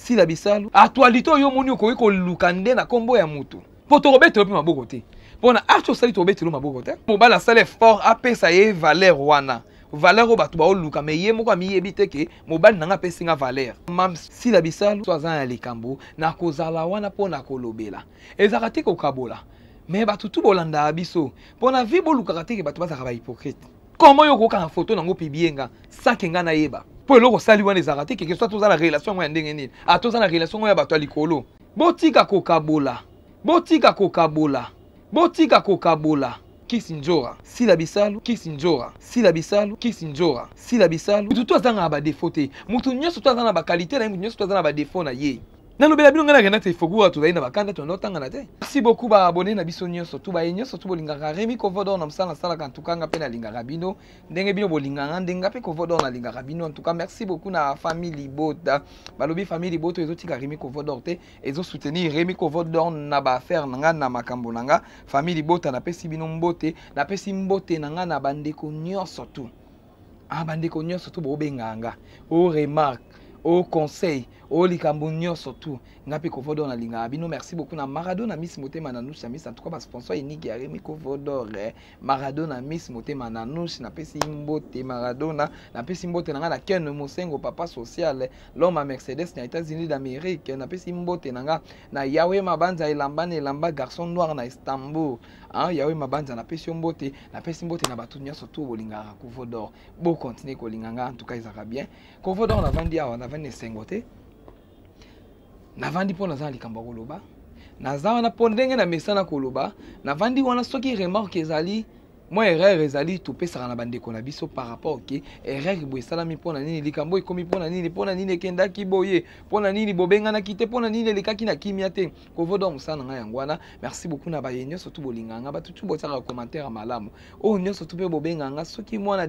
sila bisalu actualité oyo omoni okoki koluka nde na nkombo ya motu mpo tokobetelo mpe maboko te mpo na arti osali tokobetelo maboko te mobali asala effort apesa ye valeur wana valeur oyo bato baoluka me ye moko amiyebi te ke mobali na ngai apesi nga valeur mam sila bisalu so aza na likambo nakozala wana mpo na kolobela ezalaka te kokabola me bato tu bolandaka biso mpo na vie bolukaka te ke bato bazalaka bahypocrite comment yo okokanga photo nango pibie nga sake nga nayeba mpo eloko osali wana ezalaka te keke soit toza na relation yango ya ndenge nini a toza na relation yango ya bato ya likolo botika kokabola botika kokabola botika kokabola kisi nzora sila bisalu kisi nzora sila bisalu kisi nzora sila bisalu mutu to azangaka badefo te mutu nyonso to aza na bakalite na ye mutu nyonso to aza na badefo na ye nalobela bino ngai nakenda te foguwa tozali na bakanda tolanda otangana te merci beaucoup baabone na biso nyonso to baye nyonso to bolingaka remi covodor na mosala nasalaka ntuka nga mpe nalingaka bino ndenge bino bolinganga ndenge nga mpe covodor nalingaka bino ntuka merci beaucoup na famille libota balobi famille libota ezotika remi covodor te ezosoutenir remi covodor na baaffaire na ngai na makambo na ngai famille libota napesi bino mbote napesi mbote na ngai na bandeko nyonso tout ah bandeko nyonso tu bobenga nga o remarque o conseil o likambo nyonso tu nga mpe kovodor nalingaka bino merci beaucoup na maradona miss motema na nushi na miss en tout cas basponsor enigi ya remi kovodor eh. maradona miss motema na nushi napesi mbote maradona napesi mbote na nga na ken mosengo papa social l'homme à mercedes na états-unis d'amérique napesi mbote na nga na yawe mabanza elamba na elamba garçon noir na istanbul Ah, Yahweh Mabanza, na pesi mbote, na pesi mbote na batu nyoso tout bolingaka Kovo d'or. Bo continuer kolinga nga, en tout cas ezaka bien. Kovo d'or na vandi awa, na vandi esengo te. Na vandi mpo naza na likambo ya koloba. Naza wana mpo ndenge na mesana koloba, na vandi wana soki remarque ezali mwa erreur ezali topesaka na bandeko na biso par rapport ke erreur boye esalami mpo na nini likambo ekomi mpo na nini mpo na nini ekendaki boye mpo na nini bobenganaki te mpo na nini elekaki na kimia te kovo donc mosala na ngai yango wana merci beaucoup na baye nyonso tu bolinga nga bato tu botiaka commentaire ya malamu oyo oh, nyonso tu mpe bobenga nga soki mwana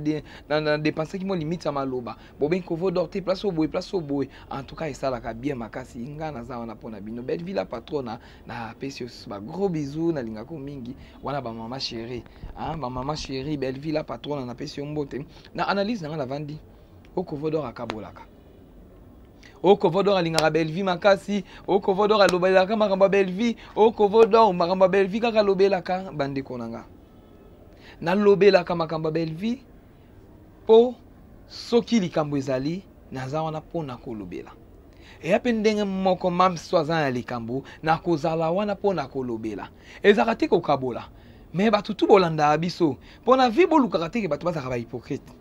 nadepensaki mwa limite ya maloba bobengi kovo dor te place oyo boye place oyo boye en tout cas esalaka bien makasi nga naza wana mpo na bino belle villa patrona napesi yo susu bagros bisou nalingako mingi wana bamama chéri ah, bamama chéri belle villa patrona napesi yo mbote na analyse na ngai navandi okovo oh, dor akabolaka okovodor alingaka belvi makasi okovodor alobelaka makambo ya belvi okovodor makambo ya belvi kaka alobelaka bandeko na nga nalobelaka makambo ya belvi mpo soki likambo ezali naza wana mpo na kolobela eya mpe ndenge moko mamso aza na likambo nakozala wana mpo na kolobela ezalaka te kokabola me bato tu bolandaka biso mpo na vi bolukaka teke bato bazalaka bahypocrite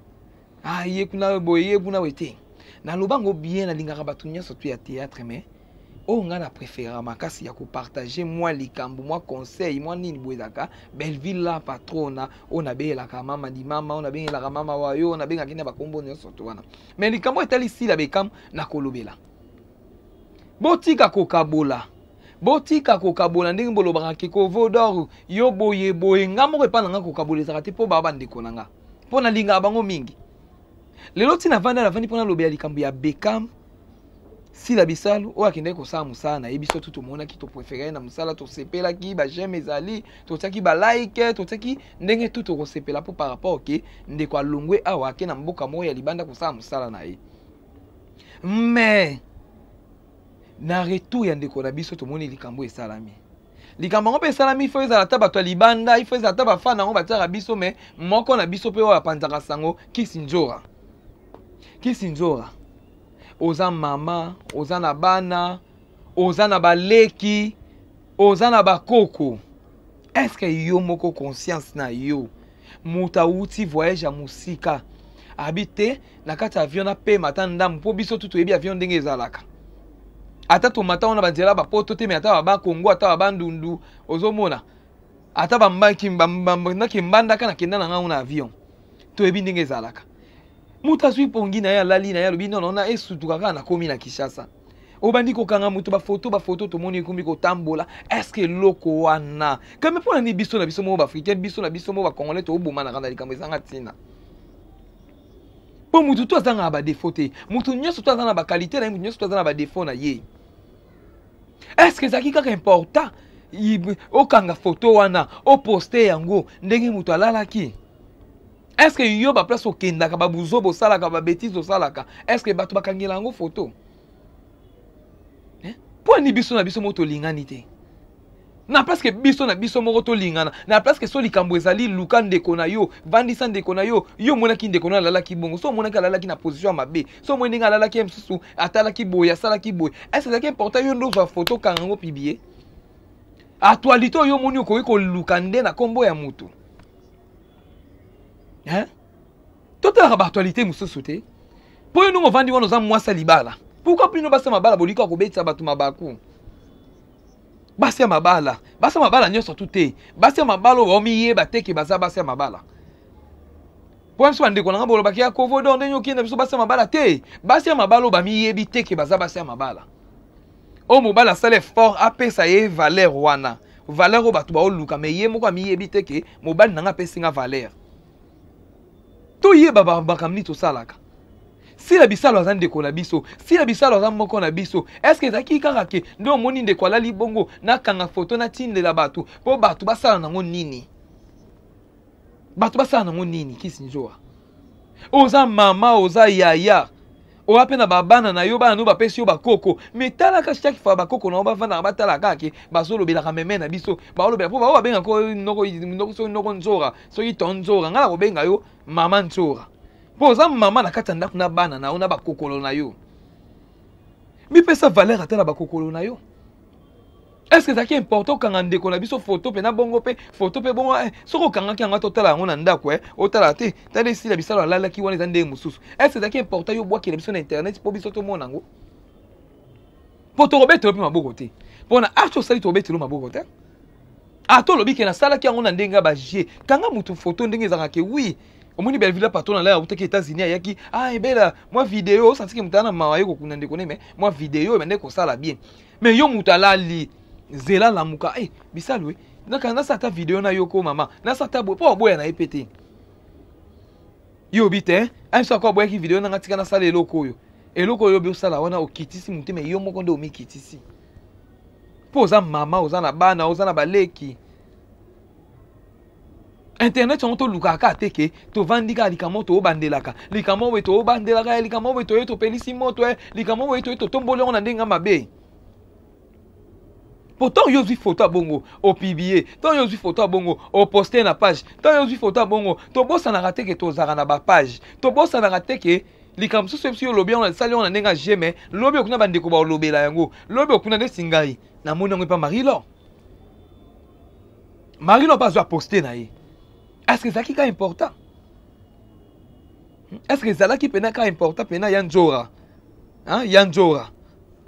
ah ye kuna boye ye kuna boye te naloba yango bien nalingaka bato nyonso tu ya théâtre mais oyo ngai na préférera makasi ya kopartage mwa likambo mwa conseil mwa nini boye ezalaka belleville la patrona oyo nabeyelaka mama dimama oyo nabengelaka mama wayo oyo nabengaki na bakombo nyonso to wana mais likambo etali sila bekam nakolobela botika kokabola botika kokabola ndenge bolobaka ke kovodor yo boye boye ngai moko epai na ngai kokabola ezalaka te mpo baa bandeko na ngai mpo nalingaka bango mingi lelo ntina avanda navandi mpo nalobela likambo ya bekam sila bisalu oyo akendaki kosala mosala na ye biso tu tomonaki toprefere na mosala tosepelaki bajeme ezali totiaki balike totiaki ndenge tu tokosepela mpo par rapport ke ndeko alongwe awa ake na mboka moko ya libanda kosala mosala na ye mais na retour ya ndeko na biso tomoni likambo esalami likambo yango mpe esalami ifo ezala ata bato ya libanda ifo ezala ata bafana yango batiaka biso me moko na biso mpe oyo apanzaka sango kisinzora kisinzora oza mama oza na bana oza na baleki oza na bakoko eske yo moko conscience na yo moto awuti voyage ya mosika abi te na kati ya avion napema ata ndambu mpo biso tu toyebi avion ndenge ezalaka ata tomata wana banzela bapoto te me ata baba kongo ata baba ndundu ozomona ata bandaki mbandaka nakenda na ngango na avion toyebi ndenge ezalaka moto azwi pongi na ye alali na ye alobi nono na esutuka kaka nakomi na kinshasa obandi kokanga moto bafoto bafoto tomoni ekomi kotambola estce eloko wana kame mpo na nini biso na biso moko baafricain biso na biso moko bacongolais toobomanaka na likambo ezanga ntina mpo motu to azanga na badefo te motu nyonso to aza na bakalite na ye motu nyonso to aza na badefo na ye estce ezalaki kaka important okanga foto wana oposte yango ndenge moto alalaki est ce que yo baplace okendaka babuzoba osalaka babetise osalaka est ce que bato bakangela yango foto eh? mpo ani biso na biso moko tolingani te na place ke biso na biso moko tolingana na place ke so likambo ezali luka ndeko na yo vandisa ndeko na yo yo omonaki ndeko na alalaki bongo so omonaki alalaki na position ya mabe so omoni ndenge alalaki ye mosusu atalaki boye asalaki boye ese ezalaki important yo nde ozwa foto okanga yango pibie actualité oyo omoni okoki koluka nde na nkombo ya motu hein totalaka baactualité mosusu te mpo yo ndenge ovandi wana oza mwasi ya libala pourkui bino basi ya mabala bolikaka kobetisa bato mabaku basi ya mabala basi ya mabala nyonso tu te basi ya mabala oyo baomiyeba te ke baza basi ya mabala mpo biso bandeko na ngai bolobaki ya kovodo ndenge okenda biso basi ya mabala te basi ya mabala oyo bamiyebi te ke baza basi ya mabala oyo mobali asala effort apesa ye valeur wana valeur oyo bato baoluka me ye moko amiyebi te ke mobali na ngai apesi nga valeur toyeba makambo nini tosalaka sila bisalo aza ndeko na biso sila bisalo aza moko na biso eske ezalaki kaka ke nde omoni ndeko alali bongo nakanga foto natindela bato mpo bato basala nango nini bato basala nango nini kisinzoa oza mama oza yaya oya mpe na babana na yo bana no bapesi yo bakoko me talaka chaque fois bakoko na yo bafandaka batala kaka ke bazolobelaka meme na biso baolobela mpo bao babenga ko noko soki noko nzora soki to nzora ngai nakobenga yo mama nzora mpo oza mama na kati ya ndako na bana na yo na bakokolo na yo mipesa valeur ata na bakokolo na yo eske ezalaki important okanga ndeko na biso foto mpe na bongo mpe foto mpe bongo eh, soki okangaki yango ata otala yango na ndako eh, otala te tala esila bisalo alalaki wana eza ndenge mosusu eske ezalaki important yo obwakela biso na internet mpo biso tomona yango mpo tokobetelo mpe maboko te mpo na arche osali tokobetelo maboko te ata olobi ke nasalaki yango na ndenge ya bagie kanga motu foto ndenge ezalaka ke wi omoni belvila patron na lai autaki états-unis ayaki ah ebela mwa video osantiki moto aa na mawa ye kokunda ndeko ne me mwa video ebandaki kosala bien mais yo moto alali zela lamuka e eh, bisalu e eh, nasala ata video na yo ko mama nasala ata boye mpo oboya na ye mpe te yo obi te amiso ako aboyaki video nanga tika nasala eloko oyo eloko oyo obi osala wana okitisi motema yo moko nde omikitisi mpo oza mama oza na bana oza na baleki internet yango tolukaka kaka te ke tovandi kaka likambo tobandelaka likambo boye tobandelaka likambo boye toye topelisi moto eh, likambo boye toye totomboli yango na ndenge ya mabe po ntango yo ozwi foto ya bongo opiblie ntango yo ozwi foto ya bongo oposte na page ntango yo ozwi foto ya bongo tobosanaka te ke tozalaka na bapage tobosanaka te ke likambo mosusu yebisi yo olobi yango nasali yango na ndenge ya jeme lobi okuna bandeko baolobela yango lobi okuna ndeti ngai namoni yango epa marie lor marino mpe azwa poste na ye est ce que ezalaki ka important hmm? est ce que ezalaki mpena ka important mpena ya nzora hein? ya nzora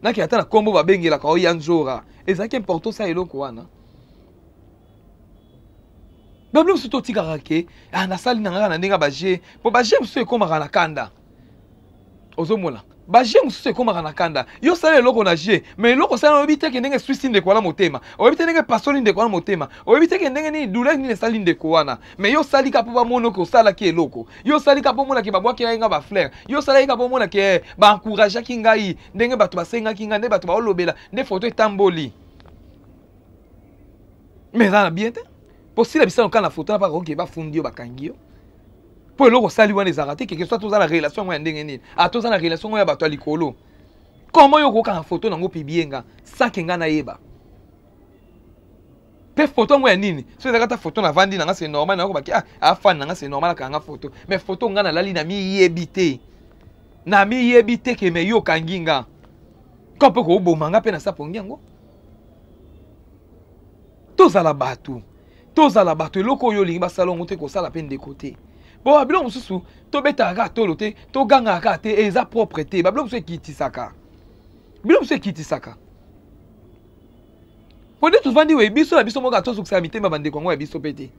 naki ata na nkombo babengelaka o ya nzora ezalaki important sa eloko wana babiloko mosusu totikaka ke ah, nasali na ngaka na ndenge ya baje mpo baje mosusu ekomaka na kanda ozomona baje mosusu ekomaka na kanda yo osala eloko na je ma eloko osala oyebi te ke ndenge eswisi ndeko wana motema oyebi te ndenge epasoli ndeko wana motema oyebi te ke ndenge nini douleur nini esali ndeko wana ma yo osali ka mpo bamono ke osalaki eloko yo osali ka mpo omona ke babwakela ye nga bafleur yo osalaki ka mpo omona ke eh, baencourageaki ngai ndenge bato basengaki ngai nde bato baolobela nde foto etamboli ma eza na bien te mpo sila bisano kaka na foto na mpaka oke bafundi yo bakangi yo mpo eloko osali wana ezalaka te keke soit toza na relation yango ya ndenge nini a ah, toza na relation yango ya bato ya likolo koma yo okokanga foto nango pibie nga sake nga nayeba mpe foto yango ya nini so ezalaka ata foto navandi nanga se normal nakobaki ah, afani nanga se normal akanga foto mais foto nga nalali na miyebi te na miyebi te ke me yo okangi nga ka mpe kooboma nga mpe nasapongi yango tozala bato tozala bato eloko oyo olingi basala yango te kosala mpe ndeko te mpo babilo mosusu tobetaka kaka tolo te togangaka kaka te eza propre te babilo mosusu ekitisaka bilo mosusu ekitisaka mpo nde tofandi we biso na biso moka tozokisaka mitema bandeko yango ya biso mpe te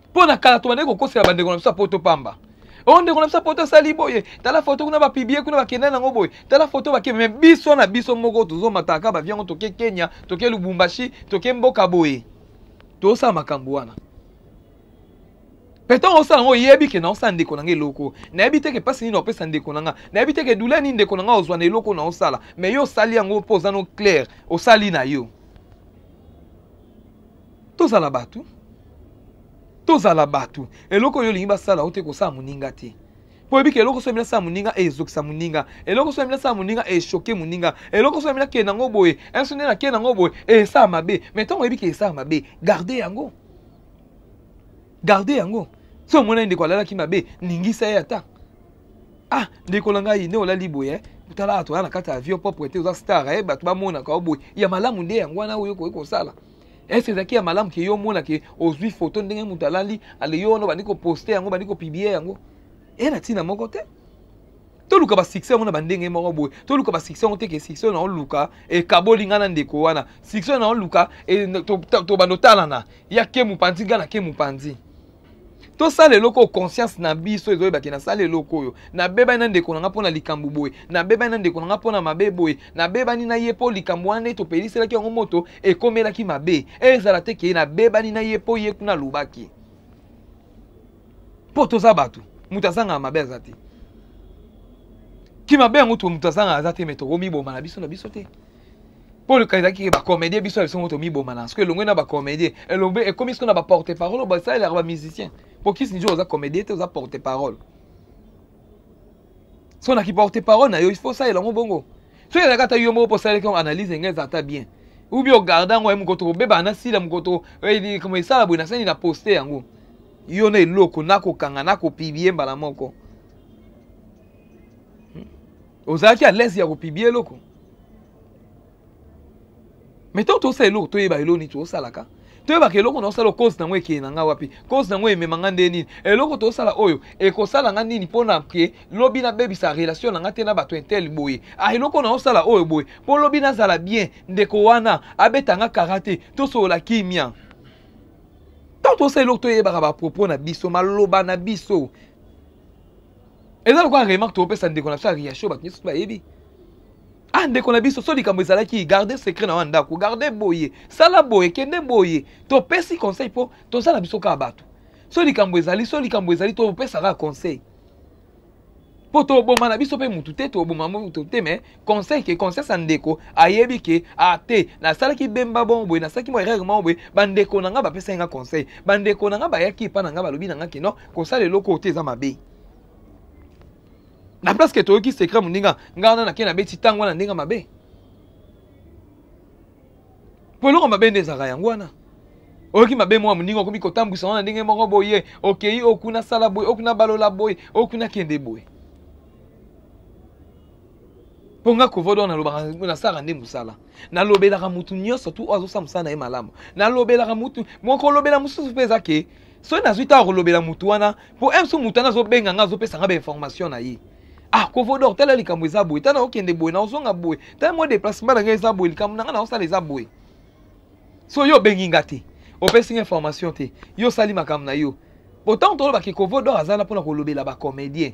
mpo na kala tobandaki kokosela bandeko na biso ya poto pamba oyo oh, ndeko na biso poto asali boye tala foto kuna bapiblie kuna bakenda nango boye tala foto bake me biso na biso moko tozomataka bavi yango toke kenya toke lubumbashi toke mboka boye tosala makambo wana petango osala yango oyebi ke naosala ndeko na nga eloko nayebi te ke mpasi nini opesa ndeko na nga nayebi te ke dula nini ndeko na nga ozwa na eloko naosala me yo osali yango mpo oza no claire osali na yo tozala bato tozala bato eloko oyo olingi basala ote kosala moninga te mpo oyebiki eloko soki minasala moninga ezokisa moninga eloko soki minasala moninga eshoke moninga eloko soki minakende yango boye enso nde nakende yango boye esala mabe mai ntango oyebiki esala mabe garde yango garde yango so omonani ndeko alalaki mabe ningisa ye ata ah ndeko na ngai nde olali boye eh? tala ato oya na kati ya avion propre te oza star eh? bato bamonaka yo boye ya malamu nde yango wana oyo okoki kosala est ce ezalaki ya malamu ke yo omona ke ozwi foto ndenge moto alali ale yo wana obandi koposte yango obandi kopiblie yango e na ntina moko te toluka basuccès yango na bandenge moko boye toluka basuccès yango te ke succès oyo naoluka ekaboli ngai na ndeko wana succès oyo naoluka e, tobanda otalana ya ke mopanzi ngai na ke mopanzi tosala eloko oyo conscience na biso ezoyebaki nasala eloko oyo nabebani na ndeko na nga mpo na likambo boye nabebani na ndeko na nga mpo na mabe boye nabebani na ye mpo likambo wana ete opeliselaki yango moto ekomelaki mabe ezala te keye nabebani na ye mpo ye kuna alobaki mpo toza bato moto azangaka mabe aza te ki mabe yango moto azangaka aza te me tokomiboma na biso na biso te mpo oluka ezalaki ke bacomédien biso ya biso moko tomiboma na soki elongwe na bacomédien elombe ekomi soki na baporte parole oyo basalelaka bamusicien mpo kisinjo oza comédien te oza porte parole so na kiporte parole na yo ifo osalela yango bongo soki ezalaka ata yo moko mpo osalelaki yango analyse enge eza ata bien ubi ogarde yango ye mokoto kobebana na sila mokoto koma esala boye nasani na poste yango yo na eloko nakokanga nakopibie mbala moko ozalaki à l'aise ya kopibia eloko mais ntango tosala eloko toyeba eloko nini tosalaka toyebaka eloko naosala cause nango ekeye na nga wapi cause nango emema nga nde nini eloko tosala oyo ekosala nga nini mpo na ke lobi nabebisa relation na nga te na bato intel boye ah eloko naosala oyo boye mpo lobi nazala bien ndeko wana abeta nga kara te tosolola kimia ntango tosala eloko toyebaka bapropos na biso maloba na biso eza lokola remarque topesa ndeko na biso ya riacho bato nyonso bayebi ah ndeko na biso so likambo ezalaki garde secret na wana ndako garde boye sala boye kende boye topesi conseil mpo toza na biso kaka bato so likambo ezali so likambo ezali topesa kaka conseil mpo toboma na biso mpe motu te toboma motu te me conseil ke conscience ya ndeko ayebi ke a ah, te nasalaki bemba bongo boye nasalaki mwa erreur moko boye bandeko na ngai bapesaki ngai conseil bandeko na ngai bayaki epai na ngai balobi na ngai ke non kosala eloko oyo te eza mabe na place ke toyoki secret moninga ngai wana nake nabeti ntango wana ndenge mabe mpo eloko mabe nde ezalaka yango wana oyoki mabe mwa moninga okomi kotambwisa wana ndenge moko boye okei okuna sala boye okuna balola boye okuna kende boye mpo nga kovodo wana nalobaka nasalaka nde mosala nalobelaka motu nyonso tu oyo azosala mosala na ye malamu nalobelaka motu mokolobela mosusu mpe eza ke soki nazwi ntango kolobela motu wana mpo m so motu wana azobenga nga azopesa nga bainformation na ye ah kovodor tala likambo eza boye tala okende boye naozonga boye tala mwa déplacement na ngai eza boye likambo na ngai naosala eza boye so yo obengi nga te opesi nga information te yo osali makambo na yo otango tolobaki kovodor azala mpona kolobela bacomédien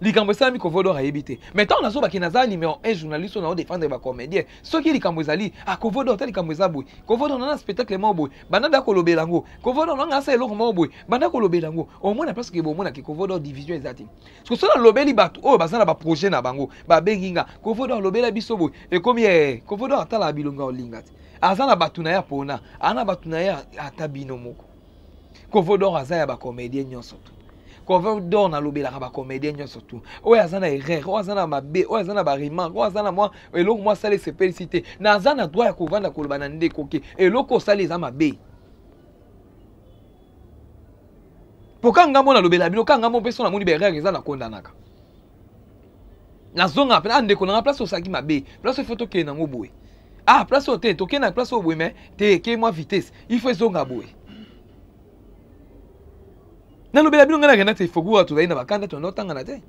likambo esalami kovodor ayebi te mais ntango nazobaki naza numéro 1 journaliste oyo naodefendre bacomédien soki likambo ezali ah kovodor ta likambo eza boye kovodor nanga spectacle moko boye banda da kolobela yango kovodor nanga asa eloko moko boye banda kolobela yango omona place ke bomonaki kovodor division eza te soki soki nalobeli bato oyo baza na baprojet na bango babengi nga kovodor alobela biso boye ekomi ee kovodor atalaka bilonga olinga te aza na bato na ye apona aza na bato na ye ata bino moko kovo dor aza ya bacomédien nyonso tu kovo dor nalobelaka bacomédien nyonso tu oyo aza na erreur oyo aza na mabe oyo aza na baremarke oyo aza na mwa eloko mwa asala esepelisi te naza na droit ya kovanda koloba na ndeko ke eloko osali eza mabe mpo ka ngambo nalobela bino ka ngambo mpe so namoni baerreur eza na kondanaka nazonga mpe ah ndeko na nga place osalaki mabe place oyo fo tokende nango boye ah place oyo te tokende na place oyo boye mai te ekei mwa vitesse il faut ezonga boye nalobela bino ngai na renate ifoku oyo tozali na bakanda tona otangana te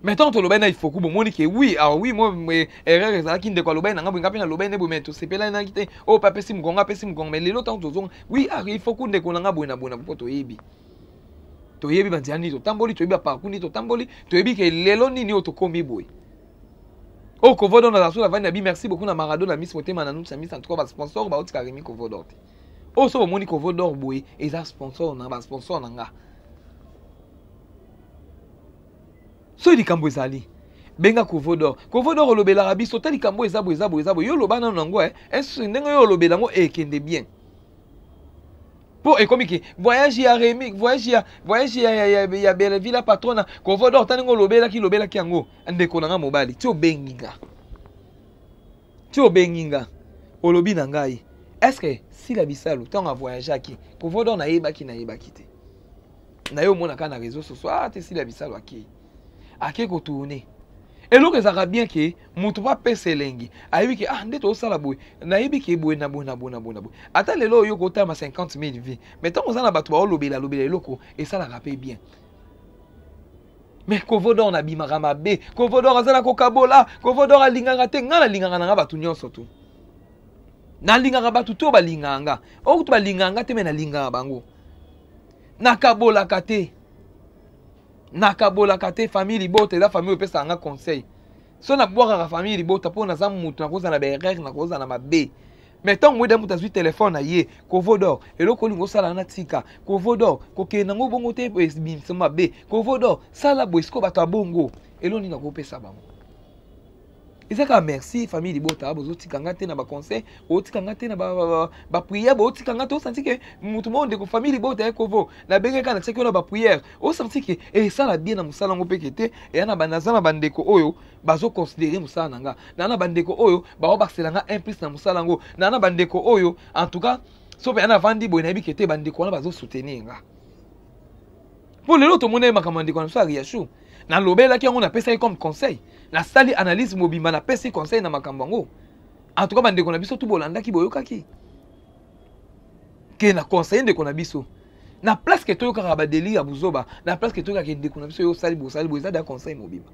mais ntango tolobaki na ifoku bomoni ke wi awa wi mo erreur ezalaki ndeko alobaki na ngai boye ngai mpe nalobaki nde boye mai tosepelanaki te oyo mpe apesi mokongo apesi mokongo mai lelo ntango tozonga wi ifoku ndeko na ngai boye na boye na mpo toyebi toyebi banzela nini totamboli toyebi baparcour nini totamboli toyebi ke lelo nini oyo tokomi boye oyo oh, kovodon na zasu lavani na bi merci beaucoup na marado na miss motema na nusa miss en tout cas basponsor baotika remi kovodor te oyo oh, so bomoni kovodor boye eza sponsor na basponsor na nga soki likambo ezali benga kovodor kovodor olobelaka biso ta likambo eza boye eza boye eza boye yo oloba nano nango eh. ndenge yo olobela yango ekende eh, bien mpo ekomi ke voyage ya remi voyage ya voyage ya, ya, ya, ya belleville la patrona kovo dor tani ngo olobelaki lobelaki yango ndeko na nga mobali ti obengi nga ti obengi nga olobi na ngai estce sila bisalu ntango avoyageaki kovo dor nayebaki nayebaki te na ye omonaka na réseau sociaux ah te sila bisalu akei ake kotourne eloko ezalaka bien ke moto mpo apesa elengi ayebi ke ah nde tozosala boye nayebi ke boye na boye na boye na boye na boye ata lelo oyo kotama 50 000 vie mais ntango oza na bato baolobela lobela eloko esalaka mpe bien mais kovodor nabimaka mabe kovodor aza na kokabola kovodor alingaka te ngai nalingaka na ngai bato nyonso tu nalingaka bato to balingaka nga okutu balingaka nga te me nalingaka bango nakabolaka te nakabolaka te famille libota eza famille opesaka nga conseil so nabwakaka famille libota mpo naza moto nakozala na baerreur nakozala na mabe mais ntango moyeda moto azwi telefone na ye kovodor eloko olingi osala na tika kovodor kokende nango bongo te ebimisa mabe kovodor sala boye sikoyo bato ya bongo elo nini nakopesa bango eza kaka merci famille libota bozotika nga te na baconseil bozotika nga te na baprière bozotika nga te osanti ke motu moko ndeko famille libota ya kovo nabenge kaka natiaki wana baprière osanti ke esala bien na mosala yango mpeke te eya na naza na bandeko oyo bazoconsidere mosala na nga naa na bandeko oyo baobakisela nga un plus na mosala yango naa na bandeko oyo en tout cas so mpe ana avandi boye nayebi ke te bandeko wana bazosoutenir nga mpo lelo tomonaki makambo ya ndeko na biso ya riachu nalobelaki yango napesaki comme conseil nasali analyse mobimba napesi conseil na makambo yango en tout cas bandeko na biso tu bolandaki boyokaki ke na conseille ndeko na biso na place ke toyokaka badeli ya buzoba na place ke toyokaka ndeko na biso yo osali bosali boye eza da conseil mobimba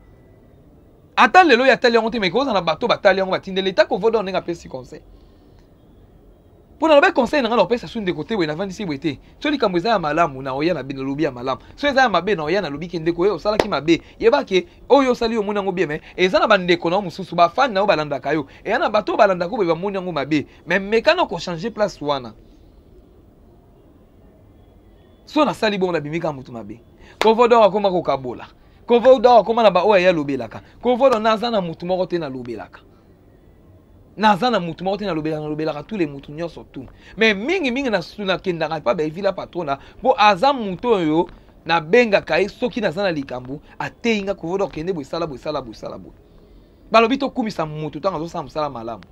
ata lelo ya tali yango te mais kozala na bato batali yango batindeli eta kovoda ndenge apesi conseil mpo nalobai conseil na ngai na kopesa su ndeko te boye navandisi boye te so likambo eza ya malamu na oya na bino lobi ya malamu so eza ya mabe na oya na lobi ke ndeko oyo osalaki mabe yeba ke oyo osali omoni yango bien me eza na bandeko na yo mosusu bafani na yo balandaka yo eya na bato oyo balandaka boye bamoni yango mabe me meka na kochange place wana so nasali bongo nabimi kaka motu mabe kovodor akoma kokabola kovodor akoma na baoyo aye alobelaka kovodor naza na motu moko te nalobelaka naza na motu moko te nalobelaka nalobelaka tous les motu nyonso tout mais mingi mingi nakendaka epa baevila patrona mpo aza motu oyo nabengaka ye soki naza na likambo ateyi nga kovoda kokende bosala bosala bosala boye balobi tokumisa motu ntango azosala mosala malamu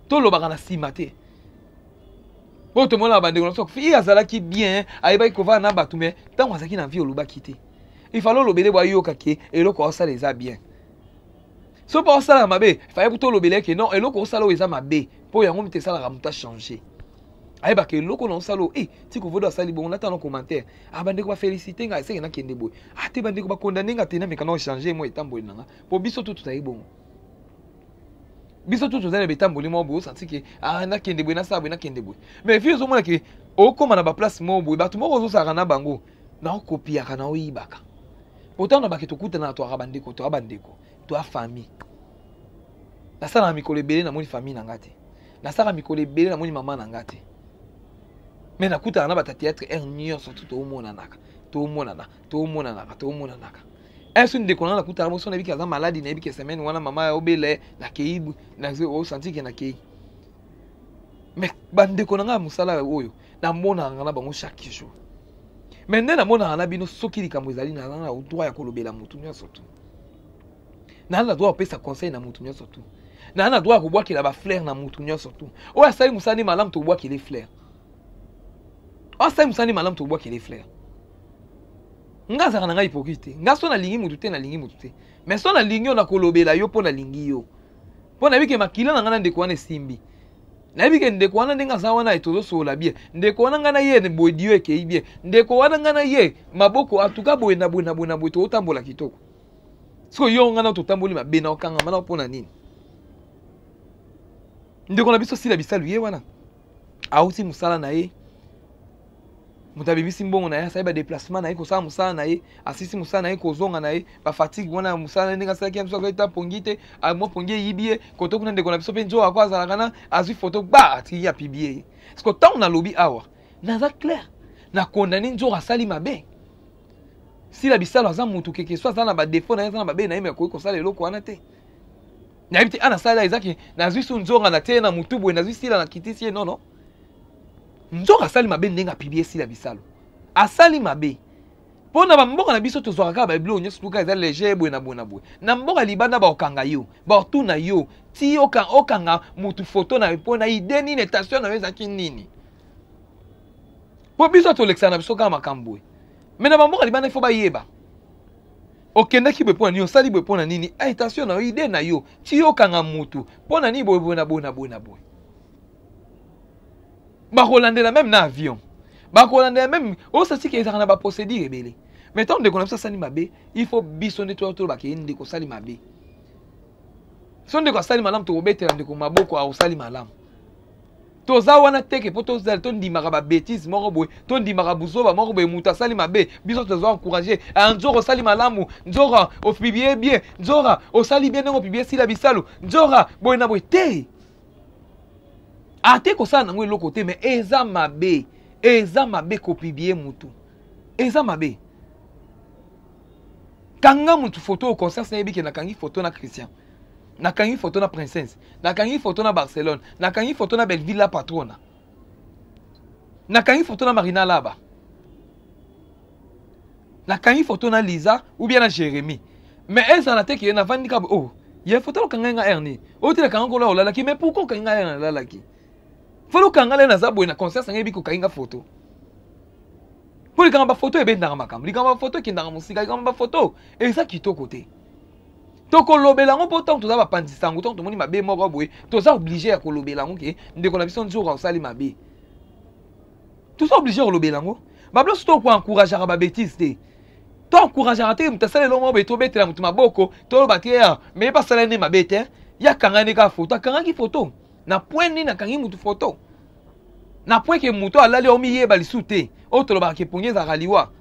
tolobaka na nsima te oyo tomonaka bandeko na biso fille azalaki bien ayebaki kovanda na bato me ntango azalaki na vie olobaki te ifale olobele bwayoka ke eloko aosala eza bien soki mpo osalaka mabe faye kuta olobela eke non eloko osala oyo eza mabe mpo yango moto esalaka moto achange ayebaka eloko na osala oyo e ti kovodo asali bongo natala na commentaire a ah, bandeko bafélicité ngai eseke nakende boye ate ah, bandeko bakondane nga te nameka na ochange mwa etamboli na nga mpo biso to tozali bongo biso to tozali na betamboli moko boye osanti ke ah, nakende boye nasala boye nakende boye mais vi ozomona ke okóma na baplace moko boye bato moko ozosalaka na bango na okopiyaka na oyibaka pourtant na bake tokutanaka toyaka bandeko toya bandeko toya famille nasalaka mikolo ebele namoni famille na nga te nasalaka mikolo ebele namoni mama na nga te me nakutana na bata théâtre heure nyonso tu tomonanaka tomonana tomonanaka tomonanaka eso ndeko nanga nakutana boso nayebi ke aza maladi nayebi ke semaine wana mama ya obele nakei osanti ke nakei me bandeko na ngai ya mosala oyo namonaka na bango chaque jour me nde namonaka na bino soki likambo ezali naza na droit ya kolobela motu nyonso tu naza na droit ya kopesa conseil na motu nyonso tu naza na droit ya kobwakela bafleur na motu nyonso tu oyo asali mosala nde malamu tokobwakele fleur oyo asali mosala nde malamu tokobwakele fleur nga azalaka na ngai hypocrite te nga so nalingi motu te nalingi motu te mais so nalingi yo nakolobela yo mpo nalingi yo mpo nayebi ke makila na ngai na ndeko wana esimbi nayebi ke ndeko wana ndenge aza wana ye tozosolola bien ndeko wana ngai na ye bodio ekei bien ndeko wana ngai na ye maboko atuka boye na boye na boye na boye tokotambola kitoko sikoyo yo ngai na totamboli mabe na okangama na mpo na nini ndeko na biso sila bisalu ye wana auti mosala na ye moto abebisi mbongo na ye asali badeplacement na ye kosala mosala na ye asisi mosala na ye kozonga na ye bafatigue wana ya mosala na ye ndenge asalaki ya biso akoki ta pongi te ah, mwa pongi eyibi ye koto kuna ndeko na biso mpe nzoka ako azalaka na azwi foto ba atiki ya pibie ye parceke ntango nalobi awa naza claire na condamne nzoka asali mabe sila bisalo aza motu keke so aza na badefaut na ye aza na babe na ye me akoki kosala eloko wana te nayebi te ana ah, sala ezaki nazwi su nzonga na tie na motu boye nazwi sila na kitisi ye nono nzoka asali mabe ndenge apibie sila bisalu asali mabe mpo na bamboka na biso tozwaka kaka babiloko nyonso tuka eza leger boye na boye na boye na mboka libanda baokanga yo baotuna yo ti okanga motu foto na yo mpo na ide nini etation na yo ezalaki nini mpo biso tolekisaka na biso kaka makambo boye me na bamboka libanda ifo bayeba okendaki boye mpo na nini osali boye mpo na nini etation na yo ide na yo ti okanga motu mpo na nini boye boye na boye na boye na boye bakolandela meme na avion bakolandela meme osasiki ezalaka na baprocédure ebele mais ntango ndeko na biso asali mabe il faut biso nde toya tolobaka ye ndeko osali mabe so ndeko asali malamu tokobetela ndeko maboko aosali malamu toza wana teke mpo tozala tondimaka babetise moko boye tondimaka buzoba moko boye moto asali mabe biso tozwa encourage ah, nzora osali malamu nzora opiblie bien nzora osali bien ndenge opiblie sila bisalu nzora boye na boye te ate kosala nango eloko te mais eza mabe eza mabe kopibie motu eza mabe kanga motu foto oyo conscience nayebi ke nakangi foto na christian nakangi foto na princesse nakangi foto na barcelone nakangi foto na belleville la patrona nakangi foto na marina laba nakangi foto na liza ou bien na jérémie mais ezala te ke navandi kaka oh ye foto okangai nga erne oyo te nakanga kolo olalaki mais pourkoi okangi nga erne nalalaki fali okanga le naza boye na conscience nanga yebi kokangi nga foto mpo likambo bafoto ebendaka makambo likambo bafoto ekendaka mosika likambo bafoto eza kitoko te tokolobela yango mpo ntango toza bapanzi sango ntango tomoni mabe moko boye toza oblige ya kolobela yango ke ndeko na biso nzoka osali mabe toza oblige kolobela yango babloso to koencourageaka babétise te to encourageaka te moto asala elongo boye tobetela moto maboko toloba te ya ah, meye basala nde mabe te ye akangani kaka foto akangaki foto na point nini akangi motu foto na point ke moto alali omiyeba lisu te oyo tolobaka kepongi ezalaka liwa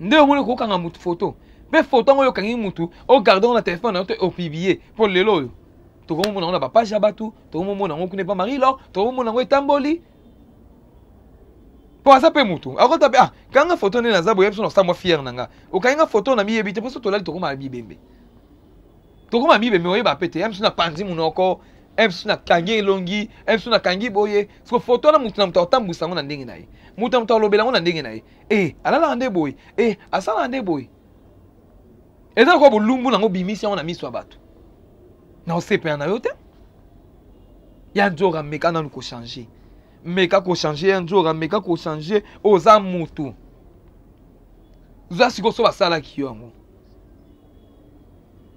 nde omoni kokanga motu foto mpe foto yango oyo okangi motu ogarde yango na telefone na yo te opiblie mpo lelo oyo tokomomona yango na bapage ya bato tokomomona yango kuna epa marie lor tokomomona yango etamboli mpo aza mpe motu akota mpe ah kanga foto nde naza boyebi so na samwa fiere na nga okangi nga foto na miyebi te mpo so tolali tokomaka bibembe tokomaka bibembe oyeba mpe te msu napanzi monoko msu nakangi elongi msu nakangi boye siko foto wana motu na moto akotambwisa yango na ndenge na ye motu na moto alobela yango na ndenge na ye e alalaka nde boye e asalaka nde boye eza lokola bolumbu nango obimisi yango na miso ya bato na osepela na yo te ya nzora meka nanu kochange meka kochange ya nzora meka kochange oza motu oza sikoyo so basalaki yo yango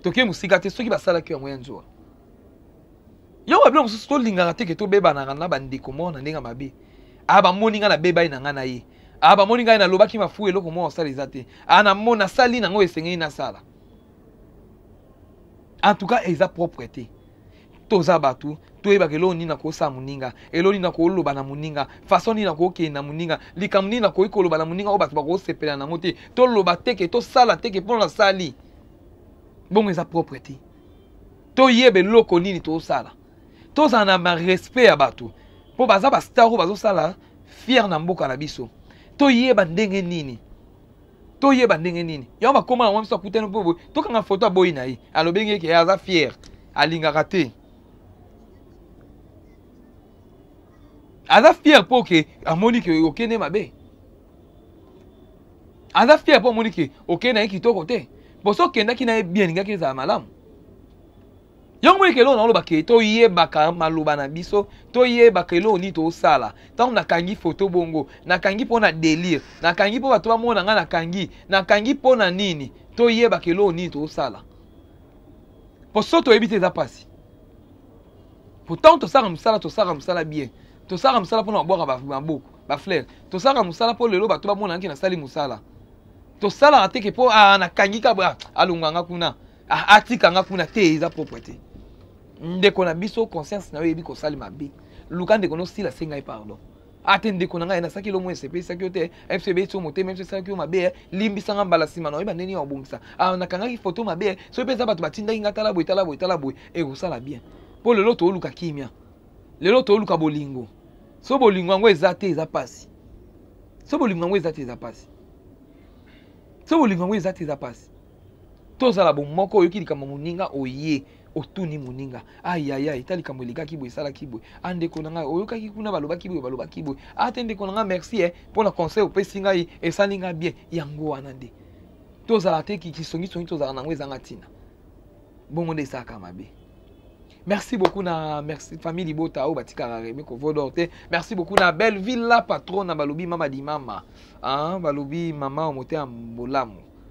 toke mosika te soki basalaki yo yango ya nzora yango babilo mosusu tolingaka te ke tobebanaka na bandeko moko na ndenge mabe aya ah, bamoni ngai nabebani na ngai na ye ah bamoni ngai nalobaki mafu eloko mwa osala eza te ah namo nasali nango esengeli nasala en tout cas eza propre te toza bato toyebaka eloko nini nakosala moninga eloko nini nakoloba na moninga façon nini nakokende na moninga likambo nini nakoki koloba na moninga oyo bato bakosepela nango te toloba teke tosala teke mpo nasali bongo eza propre te toyeba eloko nini tosala tozala na respect ya bato mpo baza bastar oyo bazosala fier na mboka na biso toyeba ndenge nini toyeba ndenge nini yango bakoma yango biso akutani mpo boye tokanga foto aboyi na ye alobi ngeke ye aza fier alingaka te aza fier mpo ke amoni ke okende mabe aza fier mpo amoni ke okende na ye kitoko te mpo so okendaki na ye bien alingaki ezala malamu yango moni keloo naoloba ke toyebaka maloba na biso toyebaka eloo nini tosala ntango nakangi foto bongo nakangi mpo na delire nakangi mpo bato bamona ngai nakangi nakangi mpo na nini toyebaka eloo nini tosala mpo so toyebi te eza mpasi mpo ntango tosala mosala tosala mosala bien tosala mosala mpo na kobwaka maboko baflere tosala mosala mpo lelo bato bamonanaki nasali mosala tosalaka teke mpo ah, nakangi kabwa ah, alonganga kuna Ah, atika nga kuna te eza propre te ndeko na biso conscience na yo eyebi kosali mabe luka ndeko nosila se ngai pardon ate ah, ndeko na ngai nasaki lomo esepesaki yo te mso ebeti yo motema mso esalaki yo mabe eh. limbisa nga mbala nsima na oyeba ndeni ya obongisa ah, nakangaki foto mabe eh. soki mpe eza bato batindaki nga tala boye tala boye tala boye ekosala bien mpo lelo tooluka kimia lelo tooluka bolingo so bolingo yango eza te eza mpasi so bolingo yango eza te eza mpasi so bolingo yango eza te eza mpasi tozala bomoko oyoki likambo moninga oye otuni moninga ayaya eta likambo elekaki boye esalaki boye a ah, ndeko na ngai oyokaki kuna balobaki boye balobaki boye a ah, te ndeko na ngai merci e eh, mpo na conseil opesi ngai esali ngai bien yango wana nde tozala te kisongisongi tozala na yango ezanga ntina bongo nde esalaka mabe merci beaucoup na merci famille libota oyo batikaka remi kovodor te merci beaucoup na belleville la patrona balobi mama dimama ah, balobi mama oyo motema bolamu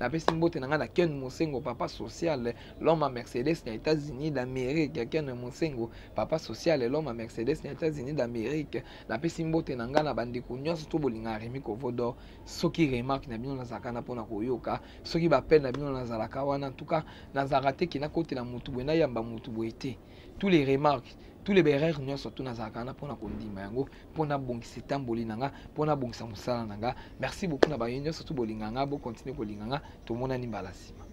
napesi mbote na ngai na ken mosengo papa social loma mercedes na états-unis d'amérique ken mosengo papa social loma mercedes na états-unis d'amérique napesi mbote na ngai na bandeko nyonso to bolingaka remi kovodo soki remarque na bino nazalaka na mpona koyoka soki bapele na bino nazalaka wana ntuka nazalaka te ke nakotela motu boye nayamba motu boye te tous les remarques tous les berreurs nyonso tu nazalaka wana mpona kondima yango mpo nabongisa etamboli na nga mpo nabongisa mosala na nga merci beaucoup na bayo nyonso tu bolinga nga bokontinue kolinga nga tomonani mbala nsima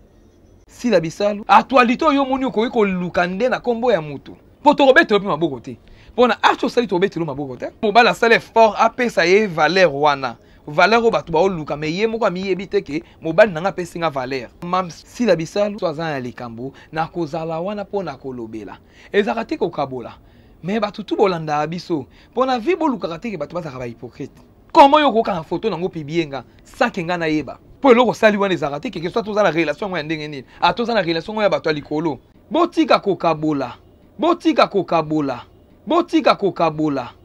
sila bisalu actualité oyo omoni okoki koluka nde na nkombo ya moto mpo tokobetelo mpe maboko te mpo na arti osali tokobetelo maboko te mobali asali effort apesa ye valeur wana valeur oyo bato baoluka me ye moko amiyebi te ke mobali na ngai apesi nga valeur mamsila bisalu so aza na likambo nakozala wana mpo na kolobela ezalaka te kokabola me bato tu bolandaka biso mpo na vie bolukaka te ke bato bazalaka bahypocrite koma yo okokanga foto nango pibie nga sake nga nayeba mpo eloko osali wana ezalaka te keke so atoza na relation yango ya ndenge nini atoza na relation yango ya bato ya likolo botika kokabola botika kokabola botika kokabola